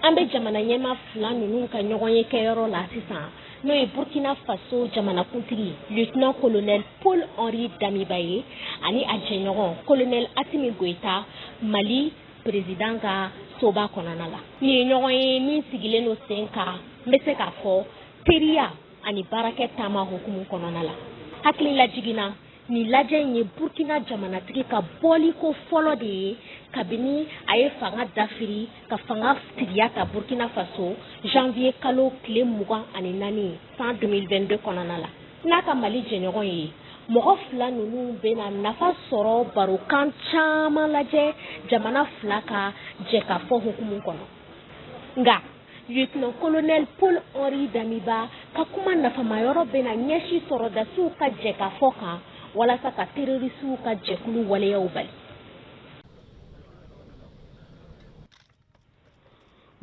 an bɛ jamana ɲɛmaa fila ninnu ka ɲɔgɔnye kɛyɔrɔ la sisan n'o ye burkina faso jamanakuntigi lieutenant colonel paul henri damiba ye ani a jɛɲɔgɔn colonel asimi goyita mali perezidan ka soba kɔnɔna la nin ye ɲɔgɔnye min sigilen don sen kan n bɛ se k'a fɔ teriya ani baarakɛ taama hukumu kɔnɔna la hakililajigin na Nin lajɛ in ye Burkina jamanatigi ka bɔliko fɔlɔ de ye kabini a ye fanga dafiri ka fanga tigiya ta Burkina Faso janvier kalo tile mugan ani naani san 2022 kɔnɔna la n'a ka Mali jɛɲɔgɔn ye. Mɔgɔ fila ninnu bɛna nafa sɔrɔ barokan caman lajɛ jamana fila ka jɛkafɔ hukumu kɔnɔ. Nka lieutenant colonel Paul Henri Damiba ka kuma nafamayɔrɔ bɛna ɲɛsin sɔrɔdasiw ka jɛkafɔ kan walasa ka terorisiw ka jɛkulu waleyaw bali.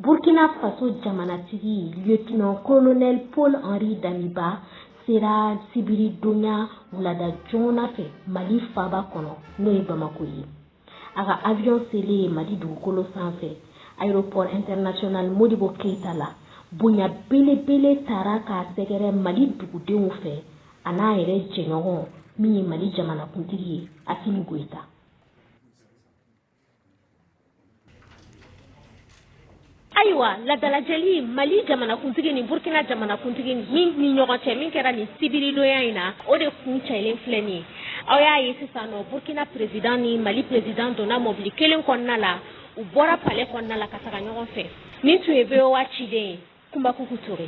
Burkina Faso jamanatigi lieutenant colonel Paul Henri Damiba sera sibiridonya wulada joona fɛ Mali faaba kɔnɔ n'o ye Bamako ye. A ka avion selen ye Mali dugukolo sanfɛ aéroport international Modibo Keita la, bonya belebele taara k'a sɛgɛrɛ Mali dugudenw fɛ, a n'a yɛrɛ jɛɲɔgɔn min ye Mali jamanakuntigi ye, Assimi Goïta. ayiwa laadalajɛli mali jamanakuntigi ni burkina jamanakuntigi min ni ɲɔgɔn cɛ min kɛra nin sibiridonya in na o de kuncɛlen filɛ nin ye aw y'a ye sisan nɔ burkina perezidan ni mali perezidan donna mɔbili kelen kɔnɔna la u bɔra pale kɔnɔna la ka taga ɲɔgɔn fɛ nin tun ye voa ciden ye kunba kuku ture